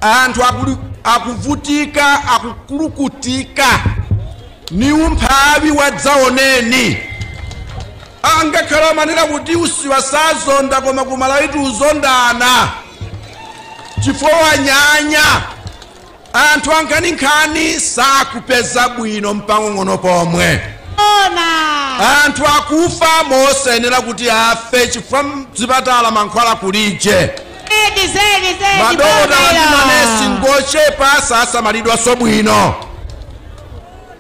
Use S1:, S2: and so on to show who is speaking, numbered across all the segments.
S1: anthu akuli- akuvutika akukulukutika ni umphawi wadzaoneni angakhale amanena kuti usiwa sazonda koma kumalawitu uzondana chifukwa wanyanya anthu ankhaninkhani sakupeza bwino mpang'ono pomwe anthu akufa mosayenera kuti afe chifukwa mzipatala mankhwala kulije madokotala ndi manesi ngochepa sasamalidwanso bwino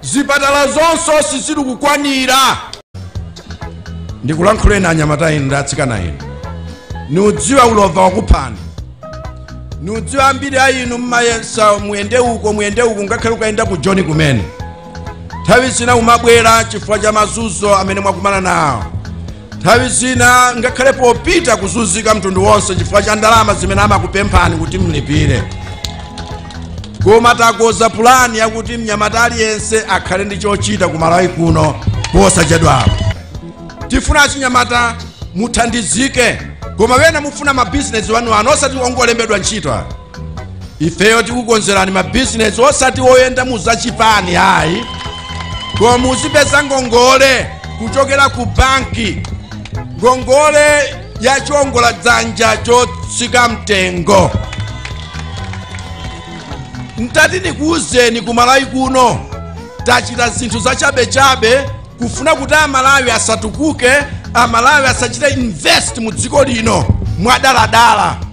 S1: zipatala zonse sizili kukwanira ndikulankhuleni anyamata inu ndi atsikana inu niudziwa ulova wakuphani niudziwa ambiri a inu mmayesa muyende uko muyende uko ngakhale ukayenda ku joni kumene nthawi zina umabwera chifukwa cha mazunzo amene mwakumana nawo nthawi zina ngakhale popita kuzunzika mtundu wonse chifukwa cha ndalama zimene amakupemphani kuti mlipire koma takonza pulani yakuti mnyamata aliyense akhale ndi chochita ku malawi kuno posachedwapo tifuna achinyamata muthandizike koma wena mufuna mabizinesi wanu anu osati ongolembedwa ntchito ifeyo tikukonzerani mabizinesi osati woyenda mu zachipani ayi koma muzipeza ngongole kuchokera ku banki ngongole ya chiongoladzanja chotsika mtengo ntati ndikuwuzeni ku malawi kuno tachita zinthu zachabechabe kufuna kuti amalawi asatukuke amalawi asachite invest mu dziko lino mwadaladala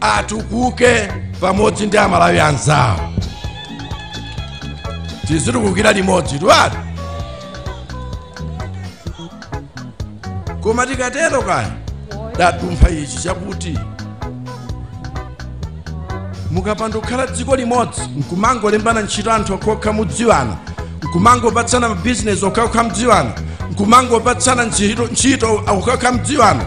S1: atukuke pamodzi ndi amalawi anzawo tizitukukira limodzi twati koma tikatero kaya tadumpha ichi chakuti mukapanda kukhala dziko limodzi nkumangolembana ntchito anthu okhaokha mudziwana nkumangopatsana mabizinesi okhaokha mudziwana nkumangopatsana ntchito okhaokha mudziwana